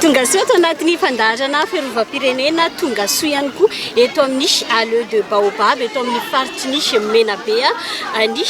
Tongasoa ato anatin'ny fandaharana fiarovam-pirenena Tongasoa ihany koa eto amin'ny Alleux de Baobab eto amin'ny faritry ny Menabe ny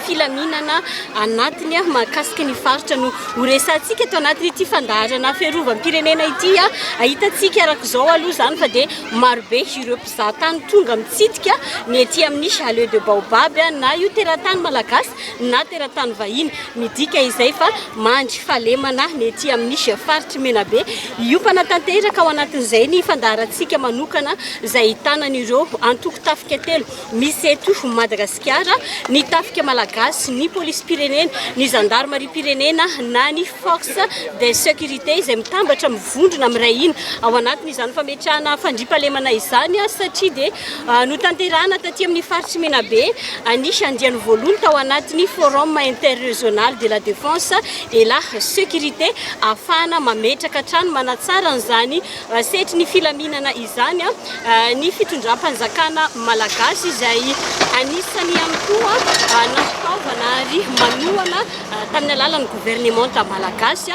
filaminana anatiny mahakasika ny faritra no Ho resahantsika eto anatin'ity fandaharana fiarovam-pirenena ity. Hitantsika araka izao aloha izany fa dia marobe ireo mpizahatany tonga mitsidika ny ety amin'ny Chalet de Baobab na io teratany malagasy na teratany vahiny. Midika izay fa mandry fahalemana ny ety amin'ny faritr'i Menabe. Hiompana tanteraka ao anatin'izay ny fandaharantsika manokana izay ahitana an'ireo antoko tafika telo. Misy eto Madagasikara ny tafika malagasy, ny polisim-pirenena, ny zandarimariam-pirenena na ny force de sécurité izay mitambatra mivondrona miray hina ao anatin'izany fametrahana fandriampahalemana izany satria dia notanterahina taty amin'ny faritr'i Menabe ny andiany voalohany tao anatin'ny forum interrégional de la défense et la sécurité ahafahana mametraka hatrany manatsara an'izany setry ny filaminana izany ny fitondram-panjakana malagasy izay anisany ihany koa nampitaovana ary manohana tamin'ny alalan'ny governemanta malagasy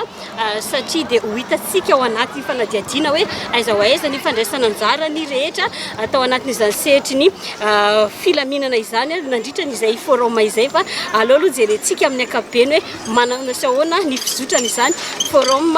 satria dia ho hitantsika ao anaty fanadihadiana hoe aiza ho aiza ny fandraisana anjara ny rehetra atao anatin'izany sehatry ny filaminana izany nandritra an'izay forum izay fa aleo aloha jerentsika amin'ny ankapobeny hoe manana sy ahoana ny fizotrana izany forum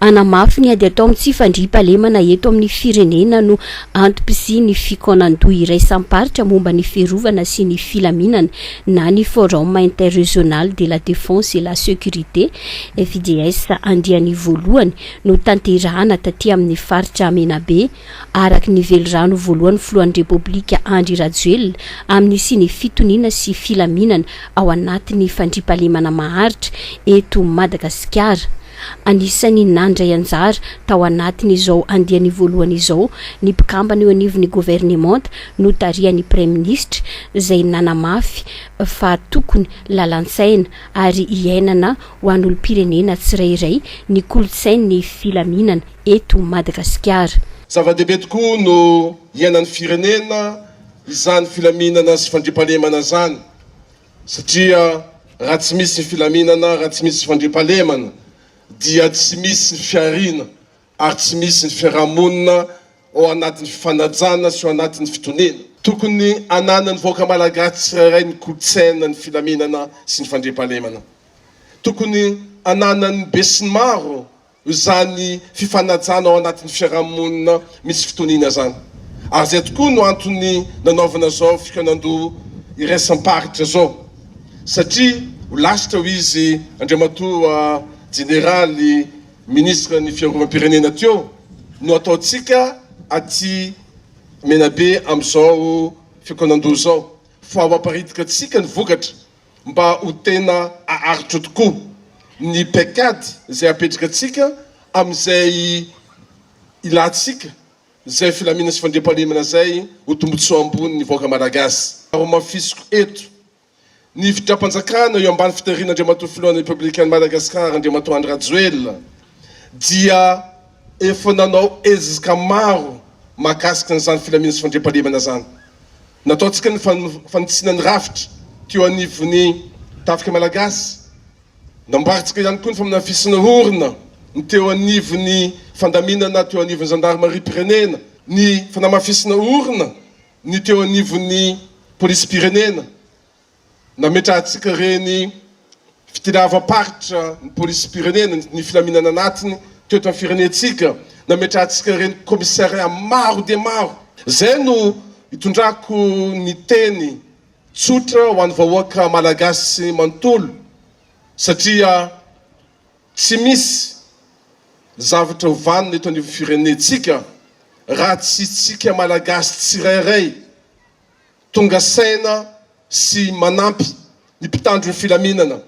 Hanamafy ny ady atao amin'ny tsy fandriampahalemana eto amin'ny firenena no antom-pisian'ny fikaonan-doha iraisam-paritra momba ny fiarovana sy ny filaminana na ny Forum Interrégional de la Défense et la Sécurité, FIDS, andiany voalohany notanterahana taty amin'ny faritra Menabe. araka ny velirano voalohan'ny filohan'ny Repoblika Andry Rajoelina amin'ny siny fitoniana sy filaminana ao anatin'ny fandriampahalemana maharitra eto Madagasikara. Anisan'ny nandray anjara tao anatin'izao andiany voalohany izao ny mpikambana eo anivon'ny governemanta notarihan'ny praiminisitra izay nanamafy fa tokony lalan-tsaina ary iainana ho an'olom-pirenena tsirairay ny kolontsain'ny filaminana eto Madagasikara. Zava-dehibe tokoa no iainan'ny firenena izany filaminana sy fandriampahalemana izany satria raha tsy misy ny filaminana, raha tsy misy ny fandriampahalemana dia tsy misy ny fihariana ary tsy misy ny fiarahamonina ao anatin'ny fifanajana sy ao anatin'ny fitoniana. Tokony ananan'ny vahoaka malagasy tsirairay ny kolontsaina ny filaminana sy ny fandriampahalemana. Tokony ananan'ny besinimaro izany fifanajana ao anatin'ny fiarahamonina misy fitoniana izany ary izay tokoa no antony nanaovana izao fikaonandoha iraisam-paritra izao satria ho lasitra hoy izy Andriamatoa Jeneraly Minisitra ny Fiarovam-pirenena teo no ataontsika aty Menabe amin'izao fikaonandoha izao fa ho aparidikantsika ny vokatra mba ho tena haharitra tokoa ny paikady izay hapetraka antsika amin'izay ilantsika izay filamina sy fandriampahalemana izay ho tombotsoa ambony ny vahoaka Malagasy. Nohamafisiko eto, ny fitram-panjakana eo ambany fitariana Andriamatoa Filohan'ny Repoblikan'i Madagasikara Andriamatoa Andry Rajoelina dia efa nanao ezaka maro mahakasika an'izany filamina sy fandriampahalemana izany. Nataontsika ny fanitsiana ny rafitra teo anivon'ny Tafika Malagasy. Namboarintsika ihany koa ny famanafisana orona ny teo anivon'ny fandaminana teo anivon'ny zandarimariam-pirenena, ny fanamafisana orona ny teo anivon'ny polisim-pirenena, nametrahantsika ireny fitdiavam-paritra ny polisim-pirenena, ny filaminana anatiny teto amin'ny firenentsika, nametrahantsika ireny commissariat maro dia maro. Izay no itondrako ny teny tsotra ho an'ny vahoaka Malagasy manontolo satria tsy misy zavatra ho vanona eto anivon'ny firenentsika raha tsy isika Malagasy tsirairay tonga saina sy manampy ny mpitandro ny filaminana,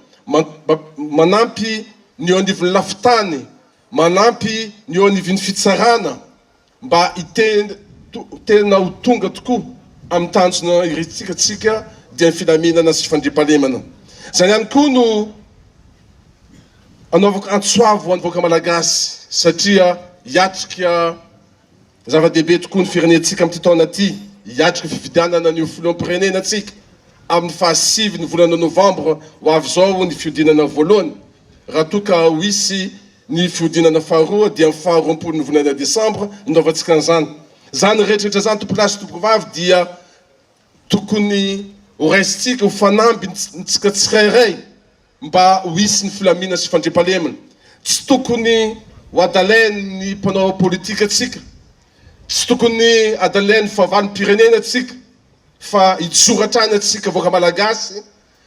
manampy ny eo anivon'ny lafin-tany, manampy ny eo anivon'ny fitsarana mba tena ho tonga tokoa amin'ny tanjona iretintsika tsika dia ny filaminana sy fandriampahalemana. Izany ihany koa no anaovako antso avo ho an'ny vahoaka Malagasy satria hiatrika Zava-dehibe tokoa ny firenentsika amin'ity taona ity hiatrika ny fifidianana ny ho filoham-pirenena antsika amin'ny fahasivy ny volana novambra ho avy izao ny fihodinana voalohany raha toa ka ho hisy ny fihodinana faharoa dia amin'ny faha roapolo ny volana desambra indoavantsika an'izany izany rehetrarehetra izany tompolahy sy tompovavy dia tokony ho raisintsika ho fanamby ntsika tsirairay Mba ho hisy ny filamina sy fandriampahalemana. Tsy tokony ho adalain'ny mpanao politika tsika, tsy tokony adalain'ny fahavalom-pirenena tsika fa hijoro hatrany antsika vahoaka Malagasy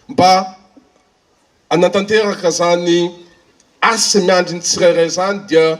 mba hanantanteraka izany asa miandry ny tsirairay izany dia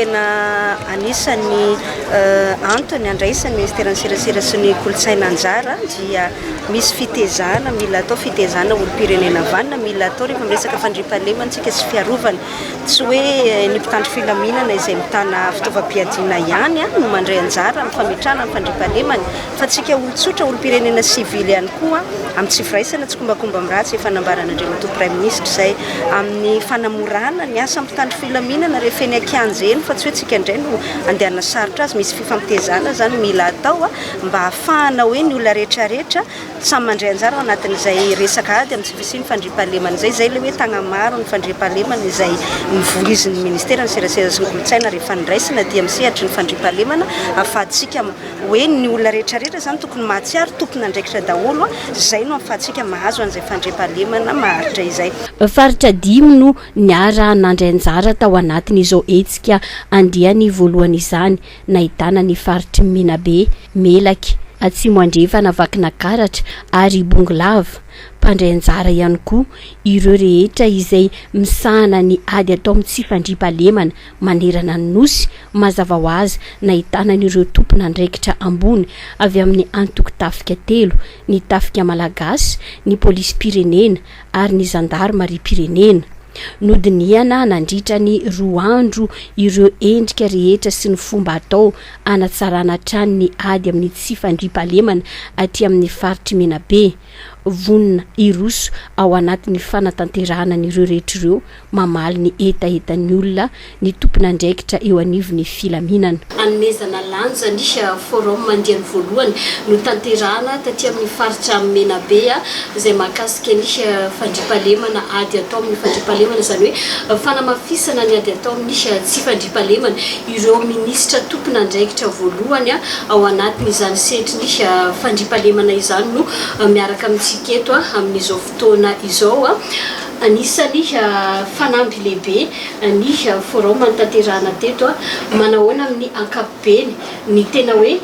tena anisan'ny antony andraisan'ny Ministeran'ny Serasera sy ny Kolontsaina anjara dia Misy fitezana mila atao, fitezana olom-pirenena vanona mila atao rehefa miresaka fandriampahalemantsika sy fiarovana. Tsy hoe ny mpitandro filaminana izay mitana fitaovam-piadiana ihany no mandray anjara amin'ny fametrahana ny fandriampahalemana fa antsika olon-tsotra, olom-pirenena sivily ihany koa amin'ny tsy firaisana, tsikombakomba amin'ny ratsy, efa nambaran'Andriamatoa Praiminisitra izay, amin'ny fanamorana ny asan'ny mpitandro filaminana rehefa eny an-kianja eny fa tsy hoe tsika indray no andehanana sarotra azy. Misy fifampitezana izany mila atao. mba hahafahana hoe ny olona rehetrarehetra samy mandray anjara ao anatin'izay resaka ady amin'ny tsy fisian'ny fandriampahalemana izay, izay ilay hoe tagnamaro ny fandriampahalemana izay novoizin'ny Ministeran'ny Serasera sy ny Kolontsaina rehefa noraisina aty amin'ny sehatry ny fandriampahalemana ahafahantsika hoe ny olona rehetrarehetra izany tokony mahatsiaro tompon'andraikitra daholo, izay no ahafahantsika mahazo an'izay fandriampahalemana maharitra izay. Faritra dimy no niara-nandray anjara tao anatin'izao hetsika andiany voalohany izany, nahitana ny faritr'i Menabe, Melaky, Atsimo Andrefana, Vakinakaratra ary Bongolava. Mpandray anjara ihany koa ireo rehetra izay misahana ny ady atao amin'ny tsy fandriampahalemana manerana ny Nosy, mazava ho azy nahitana an'ireo tompon'andraikitra ambony avy amin'ny antoko tafika telo, ny Tafika Malagasy, ny Polisim-pirenena, ary ny zandarimariam-pirenena. Nodinihana nandritra ny roa andro ireo endrika rehetra sy ny fomba atao hanatsarana hatrany ny ady amin'ny tsy fandriampahalemana aty amin'ny faritr'i Menabe. Vonona hiroso ao anatin'ny fanatanterahana an'ireo rehetra ireo Mamaly ny hetahetan'ny olona ny tompon'andraikitra eo anivon'ny filaminana. Hanomezana lanja ny Forum andiany voalohany notanterahana taty amin'ny faritra Menabe izay mahakasika ny fandriampahalemana ady atao amin'ny fandriampahalemana, izany hoe fanamafisana ny ady atao amin'ny tsy fandriampahalemana, ireo minisitra tompon'andraikitra voalohany ao anatin'izany setrin'ny fandriampahalemana izany no miaraka amintsika eto amin'izao. taona izao. Anisan'ny fanamby lehibe ny forum nitaterahana teto. Manahoana amin'ny ankapobeny ny tena hoe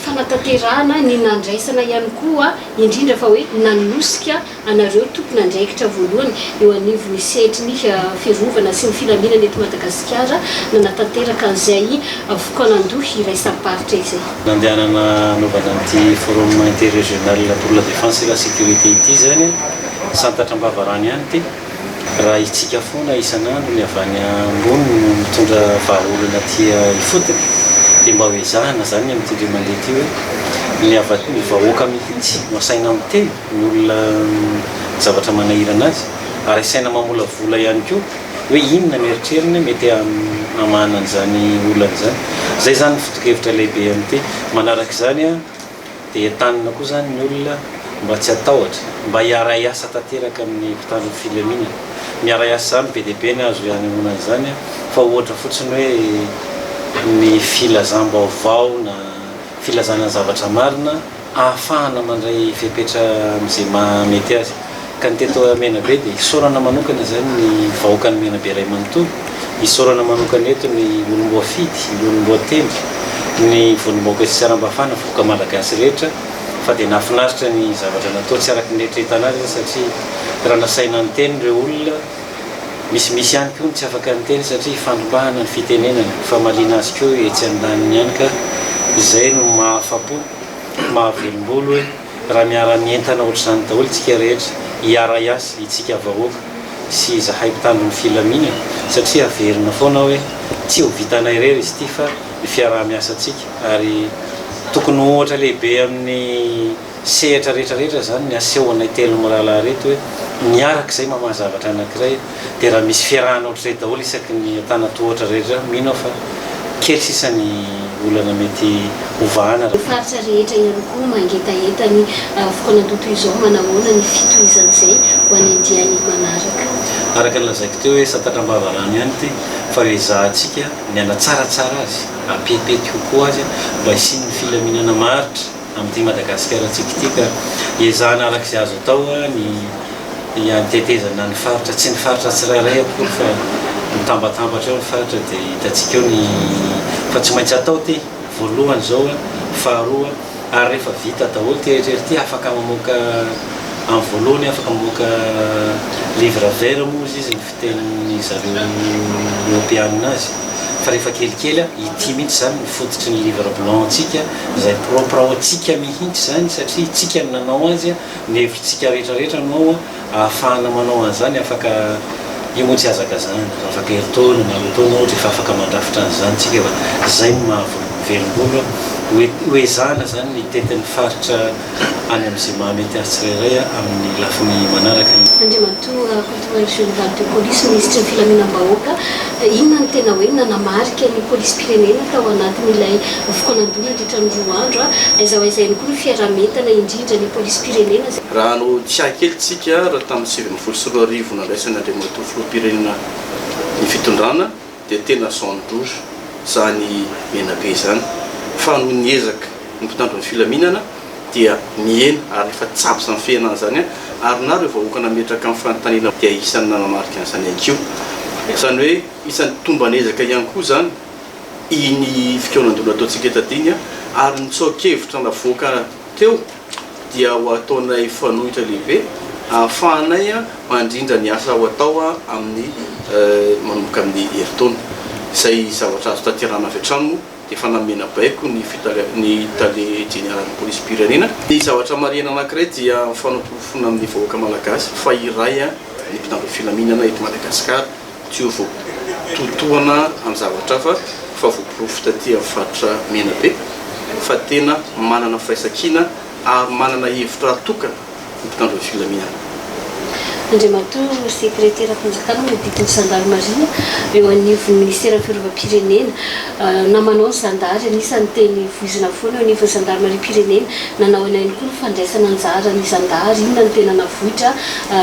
fanatanterahana ny nandraisana ihany koa indrindra fa hoe nanosika anareo tompon'andraikitra voalohany eo anivon'ny sehatry ny fiarovana sy ny filaminana eto Madagasikara nanatanteraka an'izay fokoanan-doha iraisam-paritra izay? Nandehanana hanaovana an'ity Forum Interrégional pour la Défense et la Sécurité ity izany, santatra am-bava rano ihany ity, raha hitsiaka foana isan'andro ny avy any ambony no mitondra vahaolana aty ifotony, dia mba ho ezahana izany ny amin'ity indray mandeha ity hoe ny avy aty, ny vahoaka mihitsy no asaina miteny, ny olona ny zavatra manahirana azy, ary asaina mamolavola ihany koa. Hoe inona ny eritreriny mety hamahana an'izany olana izany. Izay izany ny foto-kevitra lehibe amin'ny teny. Manaraka izany dia entanina koa izany ny olona mba tsy hatahotra, mba hiara-hiasa tanteraka amin'ny mpitandro ny filaminana. Miara-hiasa izany be dia be ny azo hanehoana an'izany fa ohatra fotsiny hoe ny filazam-baovao na filazana ny zavatra marina. ahafahana mandray fepetra amin'izay maha mety azy. Ka ny teto Menabe dia hisaorana manokana izany ny vahoakan'i Menabe iray manontolo, hisaorana manokana eto ny olom-boafidy, ny olom-boatendry, ny vondrom-bahoaka sy sarambafana, vahoaka malagasy rehetra fa dia nahafinaritra ny zavatra natao, tsy araka ny eritreretana azy satria raha nasaina niteny ireo olona, Misimisy ihany koa ny tsy afaka niteny satria ifandrombahana ny fitenenana, ifamaliana azy koa etsy andaniny ihany ka izay no mahafa-po, mahavelombolo hoe raha miara-mientana ohatr'izany daholo isika rehetra, hiara-hiasa itsika vahoaka sy izahay mpitandro ny filaminana satria averina foana hoe tsy ho vitanay irery izy ity fa ny fiaraha-miasantsika ary tokony ho ohatra lehibe amin'ny sehatra rehetra rehetra izany ny asehonay telo mirahalahy ireto hoe miaraka izay mamaha zavatra anankiray dia raha misy fiarahana ohatr'izay daholo isaky ny antanatohatra rehetra mino aho fa kely sisa ny olana mety hovahana raha faritra rehetra ihany koa mangetaheta ny vokan'andoha toy izao manahoana ny fitohizan'izay ho any andiany manaraka. Araka ny lazaiko teo hoe satatra am-bava rano ihany ity fa eo ezahantsika ny hanatsaratsara azy, hampihetipetika kokoa azy mba hisian'ny filaminana maharitra, Amin'ity Madagasikara tsika ity ka ezahana araka izay azo atao ny hiantetezana ny faritra, tsy ny faritra tsirairay akory fa mitambatambatra eo ny faritra dia hitantsika eo ny fa tsy maintsy atao ity voalohany izao an, faharoa ary rehefa vita daholo ity rehetra ity afaka mamoaka amin'ny voalohany afaka mamoaka livre vert moa izy izy ny. tenin'ny zareo Eoropeanina azy fa rehefa kelikely a, ity mihitsy izany no fototry ny livre blanc ntsika izay propre ao antsika mihitsy izany satria itsika no nanao azy a, ny hevitritsika rehetrarehetra no ao a, ahafahana manao an'izany afaka io moa tsy hazakazahana fa afaka herintaona na roa taona ohatra efa afaka mandrafitra an'izany tsika fa izay no maha velom-bolombolo a, ho ezahana izany ny tetin'ny faritra. any amin'izay mahamety azy tsirairay amin'ny lafiny manaraka ny. Andriamatoa Rakotomahery Général de Police, Minisitry ny Filaminam-bahoaka, inona no tena hoe nanamarika ny Polisim-pirenena tao anatin'ilay voky nandoa nandritra ny roa andro? Aiza ho aiza ihany koa ny fiaraha-mientana indrindra ny Polisim-pirenena izay. Raha hanao tsiahy kely isika, raha tamin'ny sivy ambin'ny folo sy roa arivo nandraisan'Andriamatoa Filoham-pirenena ny fitondrana, dia tena zone rouge izany Menabe izany fa noho ny ezaka ny mpitandro ny filaminana dia mihena ary efa tsapa izany fihenana izany ary na ireo vahoaka nametraka amin'ny fanontaniana dia isan'ny nanamarika an'izany ihany koa izany hoe isan'ny tomban'ezaka ihany koa izany iny fikaonandoana ataontsika eto Adinga ary ny tsoakevitra navoaka teo dia ho ataonay fanoitra lehibe ahafahanay mandrindra ny asa ho atao amin'ny manomboka ny herintaona. Izay zavatra azo tanterahana avy hatrany moa dia efa namena baiko ny ny tale jeneralin'ny polisim-pirenena. Ny zavatra marihina anankiray dia fanaporofoana amin'ny vahoaka malagasy fa iray ny mpitandro ny filaminana eto Madagasikara. Tsy ho voatohitohana amin'ny zavatra hafa fa voaporofo taty amin'ny faritra Menabe fa tena manana firaisankina ary manana hevitra tokana ny mpitandro ny filaminana. Andriamatoa Sekreteram-panjakana mampita ny zandarimaria eo anivon'ny Ministeran'ny Fiarovam-pirenena, na manao ny zandary, anisan'ny teny voizina foana eo anivon'ny zandarimariam-pirenena. Nanao aina ihany koa ny fandraisana anjara ny zandary, inona no tena navoitra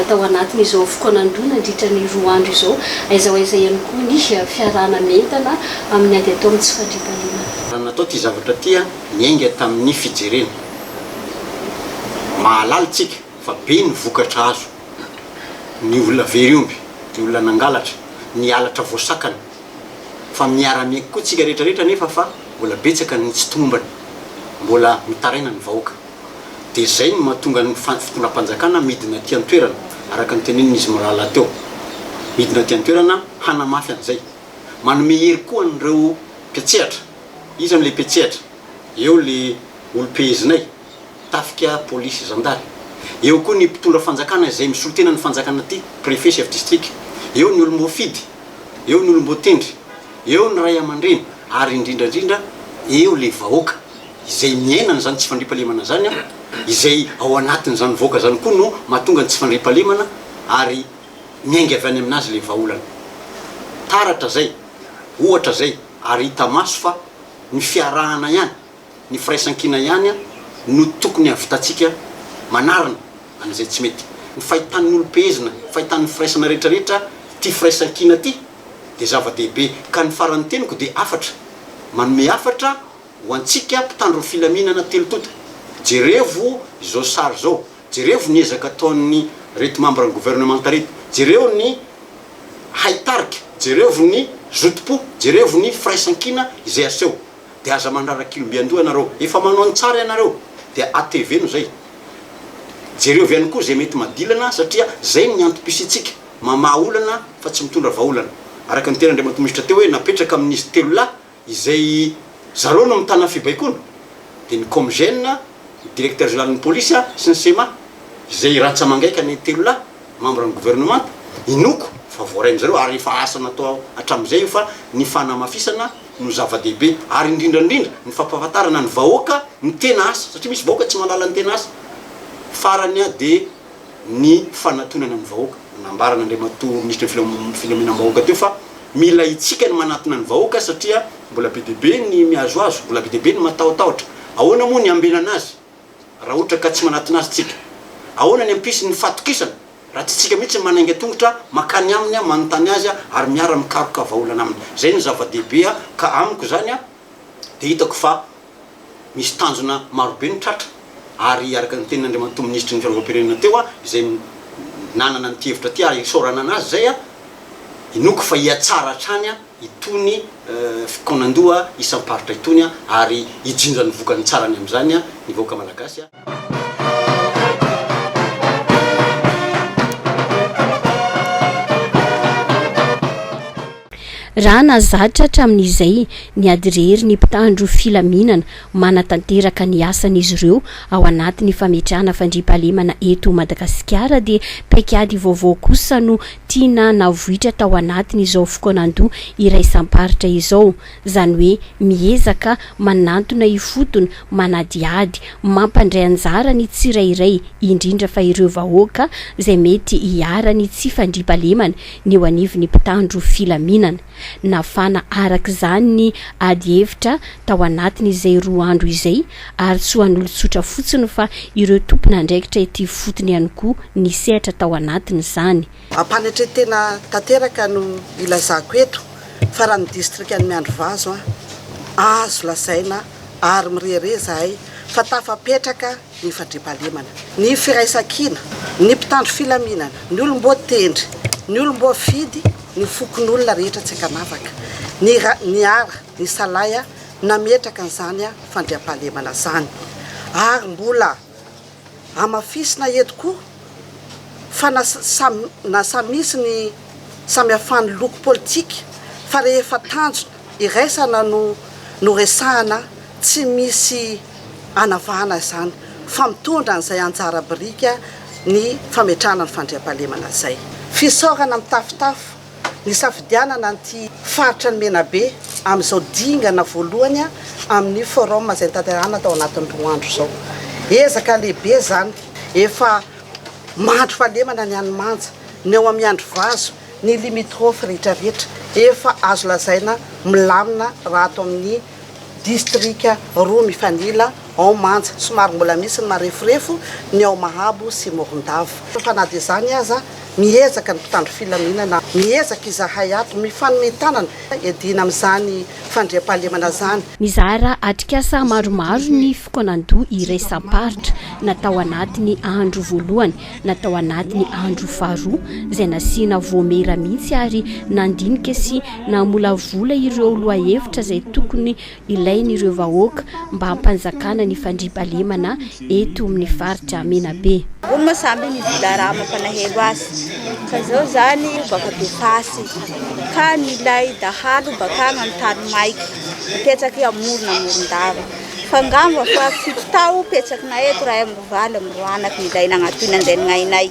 tao anatin'izao fokoan'Androy nandritra ny roa andro izao, aiza ho aiza ihany koa ny fiarahana mientana amin'ny ady atao amin'ny tsy fandriampahalemana. Natao ity zavatra ity niainga tamin'ny fijerena mahalala isika fa be ny vokatra azo, ny olona very omby, ny olona nangalatra, ny halatra voasakana, fa miara miaiky koa tsika rehetra rehetra nefa fa mbola betsaka no tsy tomombana mbola mitaraina ny vahoaka dia zay no mahatonga ny fitondram-panjakana midina aty antoerana araka ny tenenin izy mirahalahy teo midina aty antoerana hanamafy an'izay manome hery koa an'ireo mpiatsehatra iza no le mpiatsehatra eo le olom-pehezinay tafika polisy zandary. Eo koa ny mpitondra fanjakana izay misolo tena ny fanjakana ty, préfet, chef district, eo ny olom-boafidy, eo ny olom-boatendry, eo ny ray aman-dreny ary indrindra indrindra eo le vahoaka izay miaina an'izany tsy fandriampahalemana zany an, izay ao anatin'izany vahoaka zany koa no mahatonga ny tsy fandriampahalemana ary miainga avy any aminazy le vahaolana. Taratra zay, ohatra zay ary hita maso fa ny fiarahana ihany Ny firaisankina ihany no tokony hahavitantsika manarina an'izay tsy mety. Ny fahitan'ny olom-pehezina, fahitan'ny firaisana rehetrarehetra ity firaisankina ity dia zava-dehibe. Ka ny faran'ny teniko dia hafatra, manome hafatra ho antsika mpitandro ny filaminana telo tonta. Jerevo izao sary izao, jerevo ny ezaka ataon'ny reto mambran'ny governemanta reto, jereo ny haitarika, jerevo ny zotom-po, jerevo ny firaisankina izay aseho. dia aza mandrara kilo mby andoha ianareo efa manao ny tsara ianareo dia ateveno zay jereo avy any koa zay mety madilana satria zay ny antom-pisiantsika mamaha olana fa tsy mitondra vaholana araka ny teny Andriamatoa Minisitra teo hoe napetraka amin'izy telo lahy izay zareo no mitana fibaikoana dia ny Comgen, ny Directeur Général ny Polisy sy ny Cema izay rantsa-mangaika ny telo lahy membre ny Gouvernemanta inoako fa voarain'izareo ary efa asa natao hatramin'izay io fa ny fanamafisana no zava-dehibe ary indrindra indrindra ny fampahafantarana ny vahoaka ny tena asa satria misy vahoaka tsy mahalala ny tena asa. Farany a dia ny fanatonana ny vahoaka. Nambaran' Andriamatoa Minisitry ny Filaminam-bahoaka teo fa mila itsika ny manatona ny vahoaka satria mbola be dia be ny mihazohazo, mbola be dia be ny matahotahotra. Ahoana moa ny hambenana azy? Raha ohatra ka tsy manatona azy tsika, ahoana ny hampisy ny fahatokisana raha tsy tsika mihitsy manainga tongotra makany aminy, manontany azy ary miara mikaroka vahaolana aminy. Izay no zava-dehibe ka amiko izany dia hitako fa misy tanjona marobe no tratra ary araka ny tenin'Andriamatoa Minisitry ny Fiarovam-pirenena teo izay nanana an'ity hevitra ity ary isaorana anazy izay, inoako fa hihatsara hatrany. itony fikaonandoha isam-paritra itony ary hijinja ny vokany tsara any amin'izany ny vahoaka malagasy. Raha nahazatra hatramin'izay ny adirery ny mpitandro filaminana manatanteraka ny asan'izy ireo ao anatin'ny fametrahana fandriampahalemana eto Madagasikara dia paik'ady vaovao kosa no tiana navoitra tao anatin' izao fokoanan-doha iraisam-paritra izao, izany hoe miezaka manantona ifotony, manadihady, mampandray anjara ny tsirairay, indrindra fa ireo vahoaka izay mety hiharan'ny tsy fandriampahalemana ny eo anivon'ny mpitandro filaminana. Nafana araka izany ny ady hevitra tao anatiny izay roa andro izay ary tsy ho an'olon-tsotra fotsiny fa ireo tompon'andraikitra ety ifotony ihany koa nisehatra tao anatin'izany. Am-panetren-tena tanteraka no ilazako eto fa raha ny distrikan'i Miandrivazo aho, azo lazaina ary mirehareha izahay fa tafapetraka ny fandriampahalemana, ny firaisankina, ny mpitandro filaminana, ny olom-boatendry, ny olom-boafidy, ny fokonolona rehetra tsy ankanavaka, ny ra, ny ara, ny salahy nametraka an'izany fandriampahalemana izany. Ary mbola hamafisina eto koa fa na samy, na samy misy ny samihafan'ny loko politika fa rehefa tanjona, Iraisana no noresahana tsy misy anavahana izany fa mitondra an'izay anjara biriky ny fametrahana ny fandriampahalemana izay. Fisaorana mitafotafo nisafidianana an'ity faritra ny Menabe amin'izao dingana voalohany amin'ny forum izay nitanterahana tao anatin'ny roa andro izao. Ezaka lehibe izany, efa mandry fahalemana ny any Manja, ny ao Miandrivazo, Ny limitrophes rehetrarehetra efa azo lazaina milamina raha ato amin'ny distrika roa mifanila ao Manja. Somary mbola misy ny mareforefo ny ao Mahabo sy Morondava. Fa na dia izany aza, miezaka ny mpitandro filaminana, miezaka izahay ato, mifanome tanana hiadiana amin'izany fandriampahalemana izany. Nizara atrikasa maromaro ny fikaonandoha iraisam-paritra natao anatin'ny andro voalohany na tao anatin'ny andro faharoa izay nasiana voamera mihitsy ary nandinika sy namolavola ireo lohahevitra izay tokony ilain'ireo vahoaka mba hampanjakana ny fandriampahalemana eto amin'ny faritra Menabe. Hoy moa samby ny Vila Rama mpanahelo azy fa izao izany baka be fasy ka milay dahalo bakany amin'ny tany maiky mipetraky amorona morondava fa angamba fa fito tao petsakina eto raha Valo amby roa anaka izay nagnatoina an'izay nainay.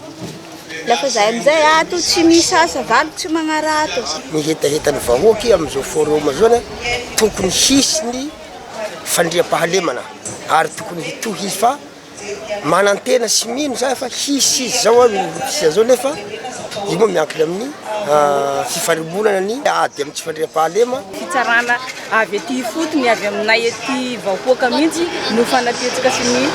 Nefa izay amin'izay ato tsy misy asa, valo tsy magnarato. Ny hetahetan'ny vahoaka amin'izao forum izao anie tokony hisy ny fandriampahalemana ary tokony hitohy izy fa manantena sy mino za fa hisy izy zao ary hisy zao nefa io moa miankina amin'ny fifarimbonana ny ady amin'ny tsy fandriampahalema. Fitsarana. Avy ety ifotony, avy aminay ety vahoaka mihitsy no fanaketsika sy ny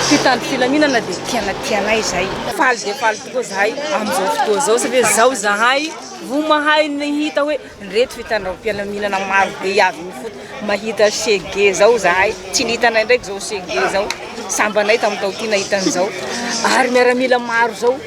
mpitandro filaminana dia tiana tianay izay. Faly dia faly tokoa zahay amin'izao fotoa izao satria izao zahay vo mahay ny hita hoe ireto fitandram-pialaminana maro be avy mifoto. Mahita chegue zao zahay, tsy ny hitanay ndraiky zao chegue zao, sambanay tamin'ny taoty nahita an'izao ary miaramila maro zao.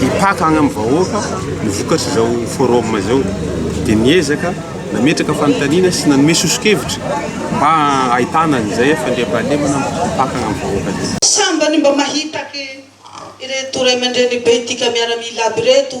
hipaka agny amin'ny vahoaka ny vokatr'izao forum izao dia niezaka nametraka fanontaniana sy nanome soso-kevitra mba hahitana an'izay fandriampahalemana mipaka agny amin'ny vahoaka izay. Sambany mba mahitake ireto ray aman-drenibe tika miaramila aby ireto.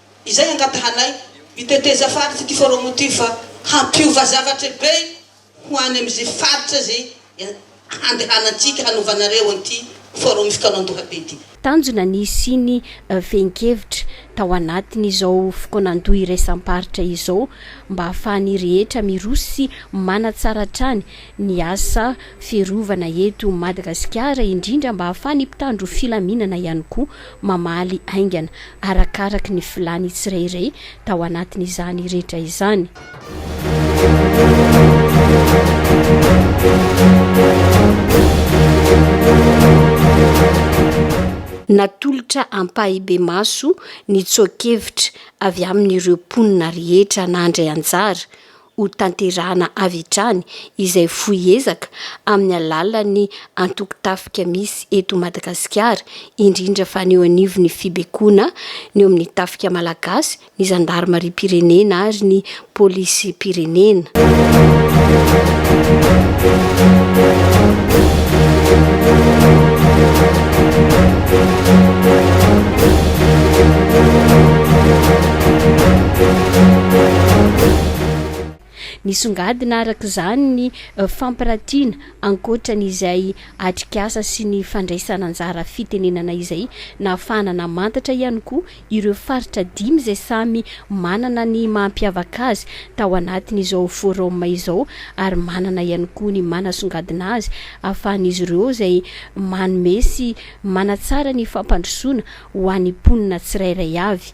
Izay angatahanay, ny teteza faritra ity forum ity fa hampiova zavatra be ho any amin'izay faritra izay handehanantsika hanaovanareo an'ity forum fikaonandoha be ity. Tanjona ny hisiany fehin-kevitra tao anatin' izao fikaonandoha iraisam-paritra izao mba ahafahan'ny rehetra miroso sy manatsara hatrany ny asa fiarovana eto Madagasikara indrindra mba ahafahan'ny mpitandro filaminana ihany koa mamaly haingana arakaraky ny filàny tsirairay tao anatin'izany rehetra izany. Natolotra ampahibemaso ny tsoa-kevitra avy amin'ireo mponina rehetra nandray anjara, ho tanterahana avy hatrany izay fohy ezaka amin'ny alalan'ny antoko tafika misy eto Madagasikara, indrindra fa ny eo anivon'ny fibekoana ny eo amin'ny tafika malagasy, ny zandarimariam-pirenena ary ny polisim-pirenena. Nisongadina araka izany ny fampiratiana ankoatra ny izay atrikasa sy ny fandraisana anjara fitenenana izay nahafahana namantatra ihany koa ireo faritra dimy izay samy manana ny mahampiavaka azy tao anatin'izao forum izao ary manana ihany koa ny manasongadina azy ahafahan'izy ireo izay manome sy manatsara ny fampandrosoana ho an'ny mponina tsirairay avy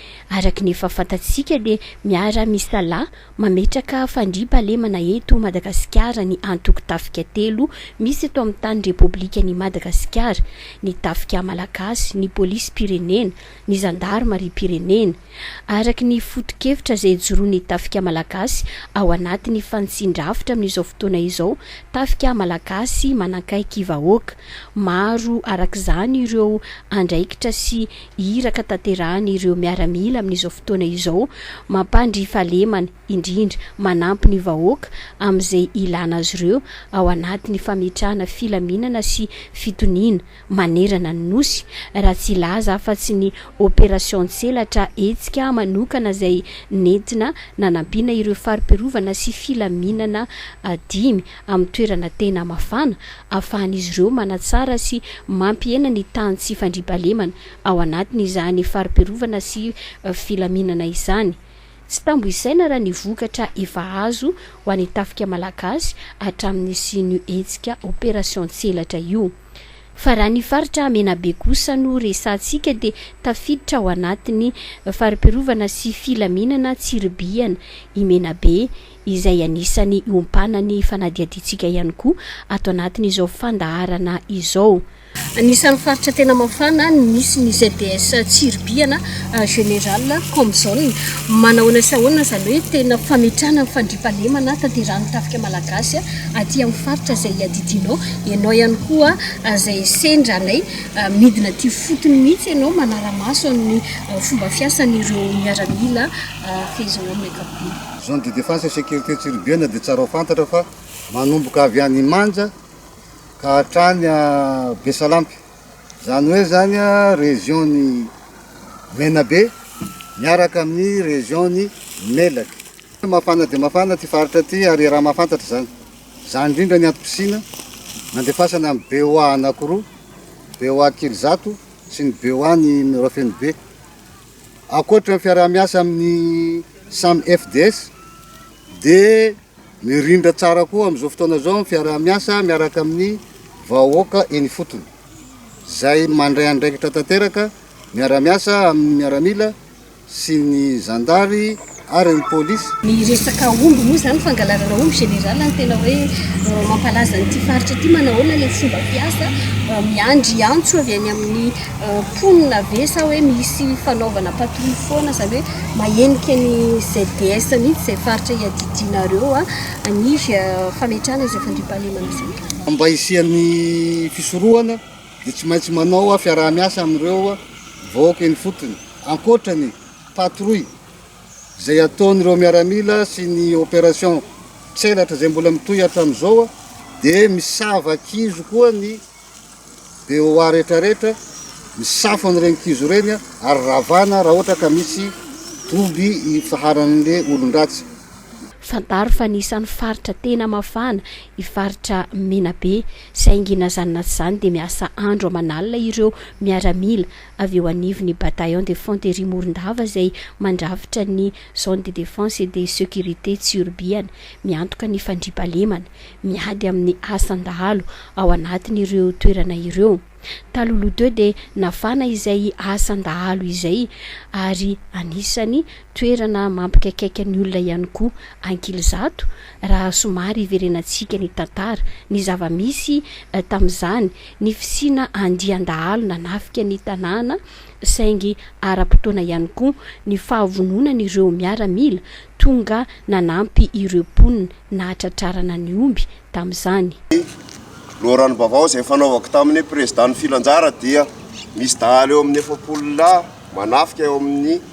Araka ny efa fantatsika dia miara misalahy mametraka fandriam-pahalemana eto Madagasikara ny antoko tafika telo misy eto amin'ny tany Repoblikan'i Madagasikara, ny Tafika Malagasy, ny Polisim-pirenena, ny Zandarimariam-pirenena. Araka ny foto-kevitra izay ijoroan'ny Tafika Malagasy ao anatin'ny fanitsian-drafitra amin'izao fotoana izao, Tafika Malagasy manankaiky vahoaka. Maro arak'izany ireo andraikitra sy. Iraka tanterahany ireo miaramila amin'izao fotoana izao, mampandry fahalemana, indrindra, manampy ny vahoaka amin'izay ilana azy ireo ao anatin'ny fametrahana filaminana sy fitoniana manerana ny Nosy, raha tsy hilaza afa-tsy ny opération Tselatra hetsika manokana izay nentina nanampiana ireo fari-piarovana sy filaminana dimy amin'ny toerana tena mafana ahafahan'izy ireo manatsara sy mampihena ny tany sy fandriampahalemana ao anatin'izany fari-piarovana sy filaminana izany. Tsy tambo isaina raha ny vokatra efa azo ho an'ny tafika malagasy hatramin'ny nisian'io hetsika Opération Tselatra io. Fa raha ny faritra Menabe kosa no resahantsika dia tafiditra ao anatin'ny fari-piarovana sy filaminana Tsiribihana i Menabe, izay anisan'ny iompana ny fanadihadiantsika ihany koa ato anatin'izao fandaharana izao. Anisan'ny faritra tena mafana ny misy ny ZDS Tsiribihana, Général comme zone. Manahoana sy ahoana izany hoe tena fametrahana ny fandriampahalemana tanterahin'ny tafika malagasy aty amin'ny faritra izay iadidianao? Ianao ihany koa izay sendra anay, midina aty ifotony mihitsy ianao manara-maso amin'ny fomba fiasan'ireo miaramila fehezao amin'ny ankapobeny. Zone de défense et sécurité Tsiribihana dia tsara ho fantatra fa manomboka avy any Imanja ka hatrany Besalampy, izany hoe izany région ny Menabe miaraka amin'ny région ny Melaky. Mafana dia mafana ity faritra ity ary iaraha mahafantatra izany. Izany indrindra ny antom-pisiana nandefasana ny BOA anankiroa, BOA Kely Zato sy ny BOA ny Mirofenobe. Ankoatra ny fiaraha-miasa amin'ny samy FDS dia mirindra tsara koa amin'izao fotoana izao ny fiaraha-miasa miaraka amin'ny vahoaka eny ifotony, izay mandray andraikitra tanteraka miara-miasa amin'ny miaramila sy ny zandary. ary ny polisy. Ny resaka omby moa izany, fangalarana omby général no tena hoe mampalaza an'ity faritra ity. Manahoana ilay fomba fiasa? Miandry antso avy any amin'ny mponina ve sa hoe misy fanaovana patrouille foana? Izany hoe mahenika ny ZDS mihitsy izay faritra iadidianareo ny fametrahana izay fandriampahalemana izay? Mba hisian'ny fisorohana dia tsy maintsy manao fiaraha-miasa amin'ireo vahoaka eny ifotony, ankoatra ny patrouille izay ataon'ireo miaramila sy ny opération tselatra izay mbola mitohy hatramin'izao dia misava kizo koa ny BOA rehetra rehetra misafo an'ireny kizo ireny ary ravana raha ohatra ka misy doby ifaharan'le olon-dratsy. Fantaro fa anisan'ny faritra tena mafana i faritra Menabe saingy na izany na tsy izany dia miasa andro aman'alina ireo miaramila avy eo anivon'ny Bataillon de Fanterie Morondava izay mandrafitra ny Zone de Defense et de Securite Tsiorbiana, miantoka ny fandriampahalemana, miady amin'ny asan-dahalo ao anatin'ireo toerana ireo. Talohaloha teo dia nafana izay asan-dahalo izay ary anisany toerana mampikaikaika ny olona ihany koa Ankilizato raha somary hiverenantsika ny tantara, ny zava-misy tamin'izany. ny fisiana andian-dahalo nanafika ny tanàna saingy ara-potoana ihany koa ny fahavononan'ireo miaramila tonga nanampy ireo mponina nahatratrarana ny omby tamin'izany. Ny loharanom-baovao izay fanaovako tamin'ny Prezidà ny filanjara dia misy dahalo eo amin'ny efapolo lahy manafika eo amin'ny.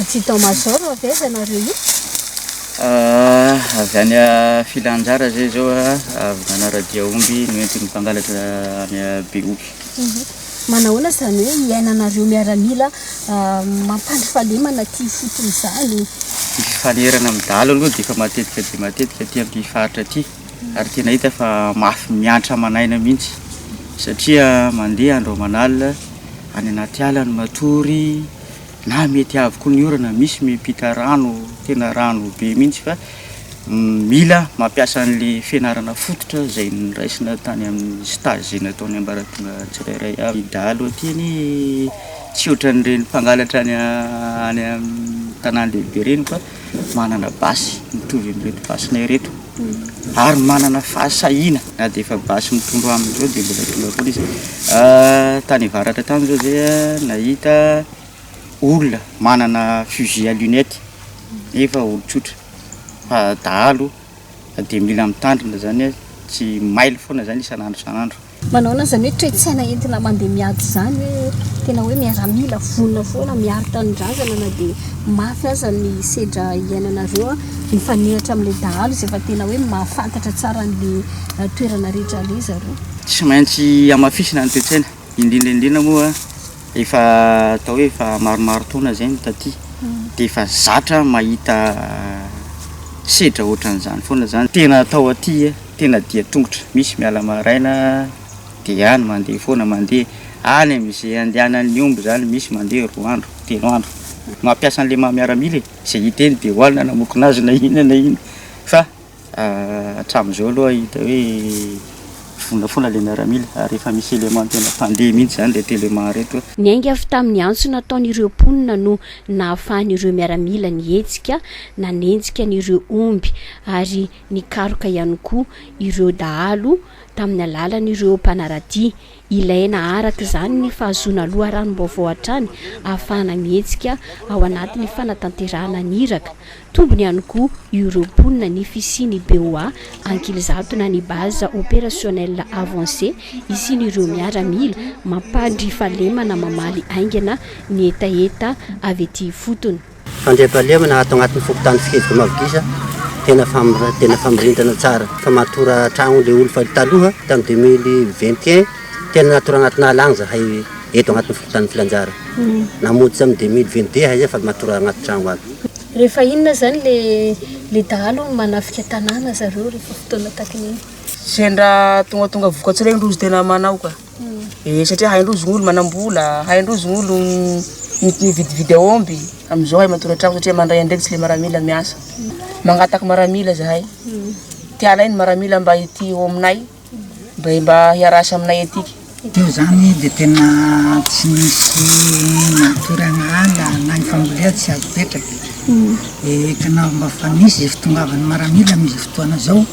Adjudant major avy aiza nareo io? Avy any Filanjara zay zao a, avy nanaradia omby noentin'ny mpangalatra any Behoky. Manahoana izany hoe iainanareo miaramila mampandrifalemana aty ifotony izany? Ny fifanerana amin'ny dahalo aloha dia efa matetika dia matetika aty amin'ity faritra ity. ary tena hita fa mafy miantra aman'aina mihitsy satria mandeha andro aman'alina any anaty ala ny matory na mety avy koa ny orana misy miampita rano tena rano be mihitsy fa mila mampiasa an'le fianarana fototra izay niraisina tany amin'ny stage izay nataon'ny ambaratonga tsirairay avy dahalo aty ny tsy ohatran'ireny mpangalatra any any amin'ny tanàn-dehibe ireny fa manana basy mitovy amin'ireto basinay ireto ary manana fahasahiana na dia efa basy mitondro aminy izao dia mbola tonga foana izy. Tany avaratra tany izao izay nahita olona manana fusil à lunette nefa olon-tsotra fa dahalo dia mila mitandrina izany, tsy mailo foana izany isan'andro isan'andro. Manaona izany hoe toe-tsaina entina mandeha miady izany hoe tena hoe miaramila vonona foana miaro tanindrazana na dia mafy aza ny sedra iainanareo an, mifanehatra amin'ilay dahalo izay fa tena hoe mahafantatra tsara an'ilay toerana rehetra aleha zareo. Tsy maintsy hamafisina ny toe-tsaina, indrindra indrindra moa efa atao hoe efa maromaro taona izay no taty dia efa zatra mahita sedra ohatran'izany foana izany tena atao aty an. Tena dia tongotra misy miala maraina dia any mandeha foana mandeha any amin izay andehanan ny omby izany misy mandeha roa andro telo andro mampiasa anle maha miaramila e izay hita eny dia ho any na namokona azy na inona na inona fa hatramin izao aloha hita hoe vonona foana ilay miaramila ary efa misy élément tena mpandeha mihitsy izany reto élément reto. Niainga avy tamin ny antso nataon ireo mponina no nahafahan ireo miaramila nihetsika nanenjika an ireo omby ary Nikaroka ihany koa ireo dahalo tamin'ny alalan'ireo mpanara-dia. Ilaina araka izany ny fahazoana loharanom-baovao hatrany ahafahana mihetsika ao anatin'ny fanatanterahana ny iraka. Tombony ihany koa io ireo mponina ny fisian'ny BOA Ankilizato na ny Base Opérationnelle Avancée isian'ireo miaramila mampandry fahalemana mamaly haingana ny hetaheta avy ety ifotony. Fandriampahalemana ato agnatin'ny fokontany Fikelika Mavo Giza tena tena famirindrina tsara fa matora tragno le olo fa taloha tam deux mille vingt et un tena natora agnatin'ny ala agny zahay eto agnatin'ny fokontany Filanjara namonjy tam deux mille vingt deux zahay fa matora agnaty tragno aby. Rehefa inona zany le le dahalo no manafika tanàna zareo rehefa fotoana takin'iny? Sendra tongatonga vokatry regny loza tena manao ka. dia satria hain-drozy ny olo manam-bola, hain-drozy ny olo mividividy aomby, amin'izao hay matory an-tragno satria mandray andraikitra ilay maramila miasa. Mangataka maramila zahay. Ty alainy maramila mba ity eo aminay, mba mba hiarasa aminay etika. Io zany dia tena tsy misy matory an'ala na ny fambolea tsy azo petraka. Dia tena mba fa misy izay fitongavan'ny maramila amin'izao fotoana izao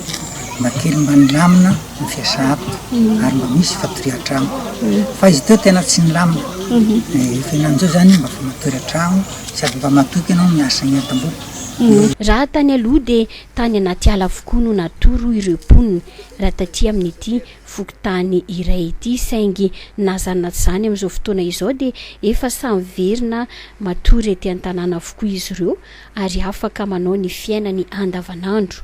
mba kely mba milamina. no fiasako ary mba misy fatoria an-trano fa izy ity tena tsy milamina ny fiainan'izao izany mba fa matory an-trano sady mba matoky ianao ny miasa ny entam-bola. Raha tany aloha dia tany anaty ala avokoa no natoro ireo mponina raha taty amin'ity fokontany iray ity saingy na zany na tsy zany amin'izao fotoana izao dia efa samy miverina matory ety an-tanàna avokoa izy ireo ary afaka manao ny fiainany andavanandro.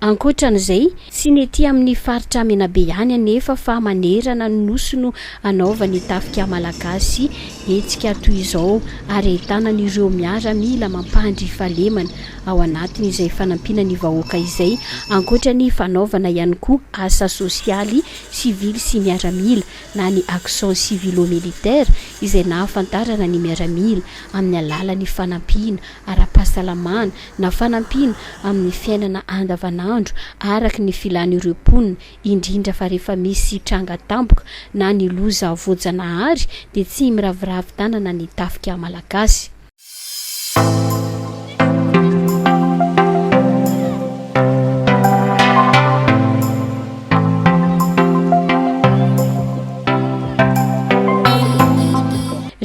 Ankoatran'izay, tsy ny ety amin'ny faritra Menabe ihany anefa fa manerana ny Nosy no hanaovany tafika malagasy hetsika toy izao ary ahitana an'ireo miaramila mampandry fahalemana ao anatiny izay fanampiana ny vahoaka izay, ankoatra ny fanaovana ihany koa asa sosialy sivily sy miaramila na ny action civilo-militaire izay nahafantarana ny miaramila amin'ny alalan'ny fanampiana ara-pahasalamana na fanampiana amin'ny fiainana andavanandro araka ny filan'ireo mponina indrindra fa rehefa misy tranga tampoka na ny loza voajanahary dia tsy miraviravy tanana ny tafika malagasy.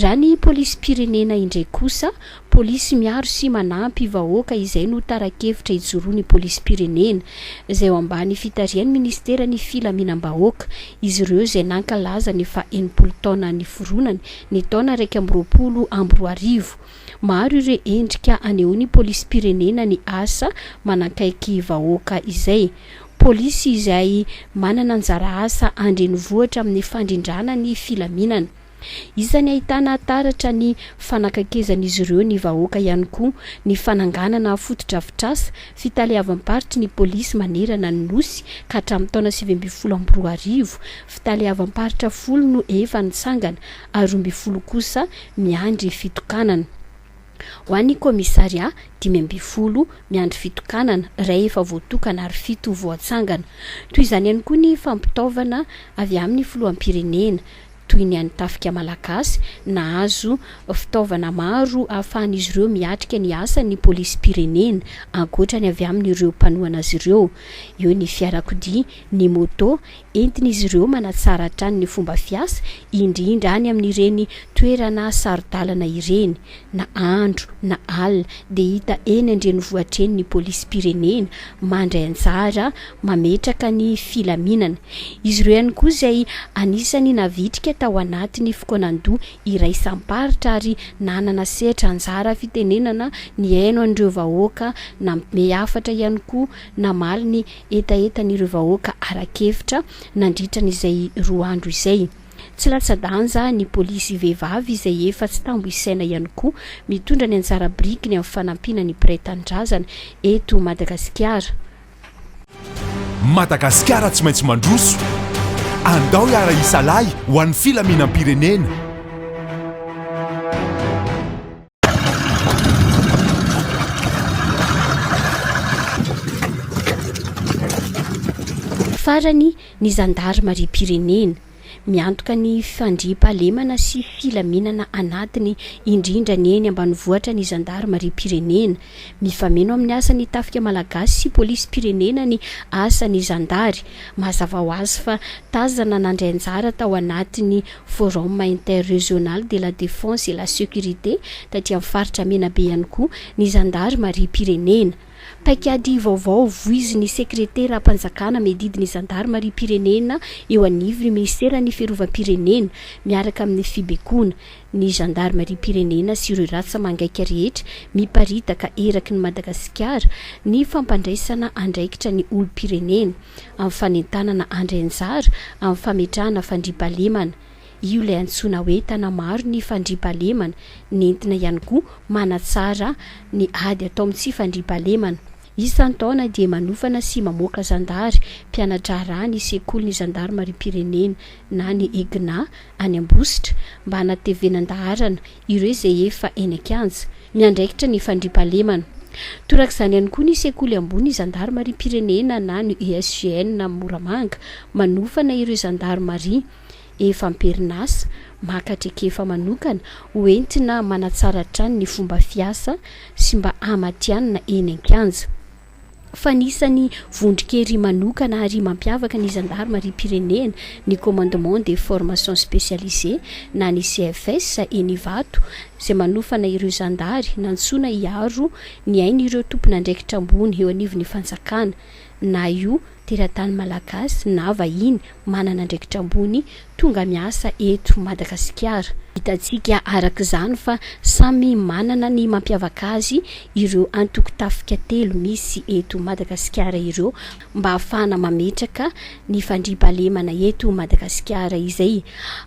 Raha ny polisim-pirenena indray kosa, Polisy miaro sy manampy vahoaka izay no tara-kevitra ijoroan'ny polisim-pirenena, izay ao ambany fitarihan'ny minisiteran'ny Filaminam-bahoaka. Izy ireo izay nankalaza ny faha enimpolo taona niforonany ny taona iraika amby roapolo amby roa arivo. Maro ireo endrika anehoan'ny polisim-pirenena ny asa manakaiky vahoaka izay. Polisy izay manana anjara asa an-drenivohitra amin'ny fandrindrana ny filaminana. Isan'ny ahitana taratra ny fanakaikezan'izy ireo ny vahoaka ihany koa ny fananganana fotodrafitrasa fitaleavam-paritry ny polisy manerana ny Nosy ka hatramin'ny taona sivy ambin'ny folo amby roa arivo, fitaleavam-paritra folo no efa nitsangana ary roa ambin'ny folo kosa miandry fitokanana. Ho an'ny kaomisarià, dimy ambin'ny folo miandry fitokanana, iray efa voatokana ary fito voatsangana. Toy izany ihany koa ny fampitaovana avy amin'ny filoham-pirenena. toy ny an'ny Tafika Malagasy, nahazo fitaovana maro ahafahan'izy ireo miatrika ny asan'ny polisim-pirenena, ankoatra ny avy amin'ireo mpanohana azy ireo. Eo ny fiarakodia, ny moto, entin'izy ireo manatsara hatrany ny fomba fiasa, indrindra any amin'ireny toerana saro-dalana ireny. Na andro na alina dia hita eny an-drenivohitra eny ny polisim-pirenena, mandray anjara mametraka ny filaminana. Izy ireo ihany koa izay anisan'ny navitrika tao anatin'ny fokoanan-doha iraisam-paritra ary nanana sehatra anjara fitenenana nihaino an'ireo vahoaka, nampme hafatra ihany koa namaly ny hetahetan'ireo vahoaka ara-kevitra nandritra an'izay roa andro izay. Tsy latsa-danja ny polisy vehivavy izay efa tsy tambo isaina ihany koa mitondra ny anjara birikiny amin'ny fanampiana ny mpiray tanindrazana eto Madagasikara. Madagasikara tsy maintsy mandroso. Andao hiara-hisalahy ho an'ny filaminam-pirenena. Farany, ny zandarimariam-pirenena. Miantoka ny fandriampahalemana sy filaminana anatiny indrindra ny eny ambanivohitra ny zandarimariam-pirenena. Mifameno amin'ny asan'ny tafika malagasy sy polisim-pirenena ny asan'ny zandary. Mazava ho azy fa tazana nandray anjara tao anatin'ny Forum Interrégional de la Défense et la Sécurité taty amin'ny faritra Menabe ihany koa ny zandarimariam-pirenena. Paikady vaovao voizin'ny Sekreteram-panjakana miadidy ny Zandarimariam-pirenena eo anivon'ny Minisiteran'ny Fiarovam-pirenena, miaraka amin'ny Fibekoana ny Zandarimariam-pirenena sy ireo rasa mangaika rehetra miparitaka eraky ny Madagasikara ny fampandraisana andraikitra ny olom-pirenena amin'ny fanentanana andrianjara amin'ny fametrahana fandriampahalemana Io ilay antsoina hoe Tanamaro ny fandriampahalemana, nentina ihany koa manatsara ny ady atao amin'ny tsy fandriampahalemana. Isan-taona dia manofana sy mamoaka zandary mpiana-draharaha ny Sekolin'ny Zandarimariam-pirenena na ny EGNA any Ambositra mba hanatevenan-daharana ireo izay efa eny an-kianja miandraikitra ny fandriampahalemana. Torak'izany ihany koa ny Sekoly Ambony Zandarimariam-pirenena na ny ESGN Moramanga manofana ireo zandarimaria. efa am-perinasa, maka traikefa manokana ho entina manatsara hatrany ny fomba fiasa sy mba hamatihanina eny an-kianja. Fa anisan'ny vondron-kery manokana ary mampiavaka ny zandarimariam-pirenena ny Commandement des Formations Spécialisées na ny CFS eny Ivato izay manofana ireo zandary nantsoina hiaro ny ain'ireo tompon'andraikitra ambony eo anivon'ny fanjakana na io teratany malagasy na vahiny manana andraikitra ambony tonga miasa eto Madagasikara. Hitantsika araka izany fa samy manana ny mampiavaka azy ireo antoko tafika telo misy eto Madagasikara ireo mba hahafahana mametraka ny fandriampahalemana eto Madagasikara izay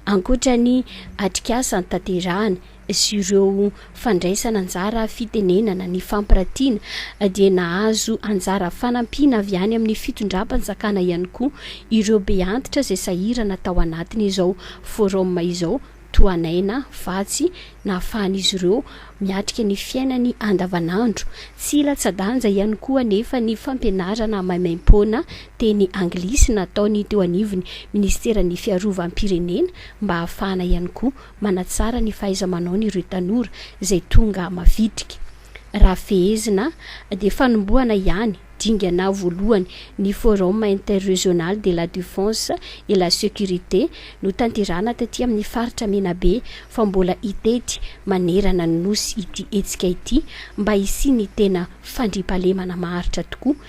ankoatra ny atrikasa tanterahana sy ireo fandraisana anjara fitenenana ny fampiratiana dia nahazo anjara fanampiana avy any amin'ny fitondram-panjakana ihany koa ireo beantitra izay sahirana tao anatin'izao forum izao toa naina vatsy nahafahan'izy ireo miatrika ny fiainany andavanandro. Tsy latsa-danja ihany koa anefa ny fampianarana maimaim-poana teny anglisy nataony teo anivon'ny Ministeran'ny Fiarovam-pirenena mba hahafahana ihany koa manatsara ny fahaiza-manaony ireo tanora izay tonga mavitrika. Raha fehezina, dia fanombohana ihany dingana voalohany ny Forum Interregional de la Defense et la Sécurité notanterahana taty amin'ny faritra Menabe fa mbola hitety manerana ny Nosy ity hetsika ity mba hisian'ny tena fandriampahalemana maharitra tokoa